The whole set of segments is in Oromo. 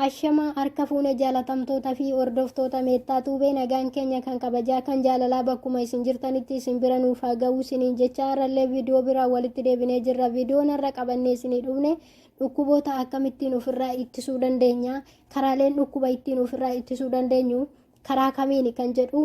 Ashamaa harka fuune jaalatamtoota fi hordoftoota meettaa tuubee nagaan keenya kan kabajaa kan jaalalaa bakkuma isin jirtanitti isin bira nuuf haa ga'uu isiniin jecha har'allee viidiyoo biraa walitti deebinee jirra viidiyoon har'a qabannee isinii dhufne dhukkuboota akkamittiin ofirraa ittisuu dandeenya karaaleen dhukkuba ittiin ofirraa ittisuu dandeenyu karaa kamiini kan jedhu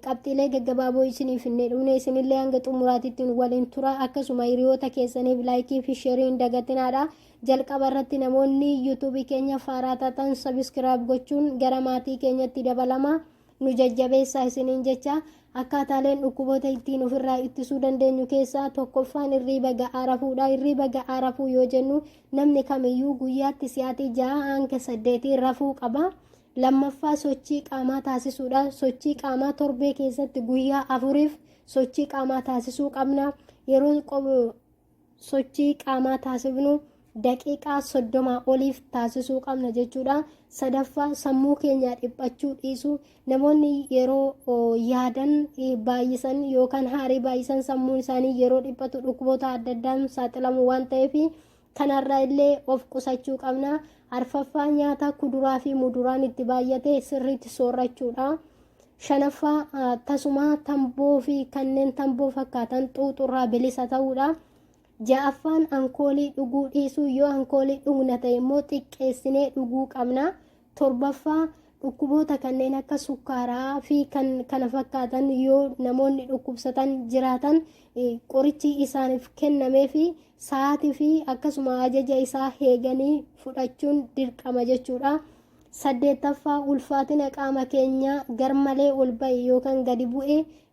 qabxiilee gaggabaaboo isinii finnee dhumne isinillee hanga xumuraatitti waliin tura akkasuma hiriyoota keessaniif laayikii fi sheerii hin dagatinaadha jalqaba irratti namoonni yuutuubii keenya faaraa taatan sabiskiraayib gochuun gara maatii keenyatti dabalama nu jajjabeessaa isiniin jecha akkaataaleen dhukkuboota ittiin ofirraa ittisuu dandeenyu keessaa tokkoffaan irriiba ga'aa rafuudha irriiba ga'aa rafuu yoo jennu namni kamiyyuu guyyaatti si'aatii ja'a hanga saddeetii rafuu qaba Lammaffaa sochii qaamaa taasisuudha. Sochii qaamaa torbee keessatti guyyaa afuriif sochii qaamaa taasisuu qabna. Yeroo sochii qaamaa taasifnu daqiiqaa soddomaa oliif taasisuu qabna jechuudha. Sadaffaa sammuu keenyaa dhiphachuu dhiisu. Namoonni yeroo yaadan baay'isan yookaan haarii baay'isan sammuun isaanii yeroo dhiphatu dhukkuboota adda addaan saaxilamu waan ta'eef Kanarraa illee of qusachuu qabna. Arfaffaa nyaata kuduraa fi muduraan itti baay'ate sirriitti soorrachuudha. Shanaffaa tasumaa tamboo fi kanneen tamboo fakkaatan xuuxurraa bilisa ta'uudha. Ja'affaan ankoolii dhuguu dhiisuu yoo ankoolii dhugna ta'e immoo xiqqeessinee dhuguu qabna. Torbaffaa dhukkuboota kanneen akka sukkaaraa fi kan kana fakkaatan yoo namoonni dhukkubsatan jiraatan qorichi isaaniif kennamee fi sa'aatii fi akkasuma ajaja isaa heeganii fudhachuun dirqama jechuudha. Saddeettaffaa ulfaatina qaama keenyaa garmalee ol ba'e yookaan gadi bu'e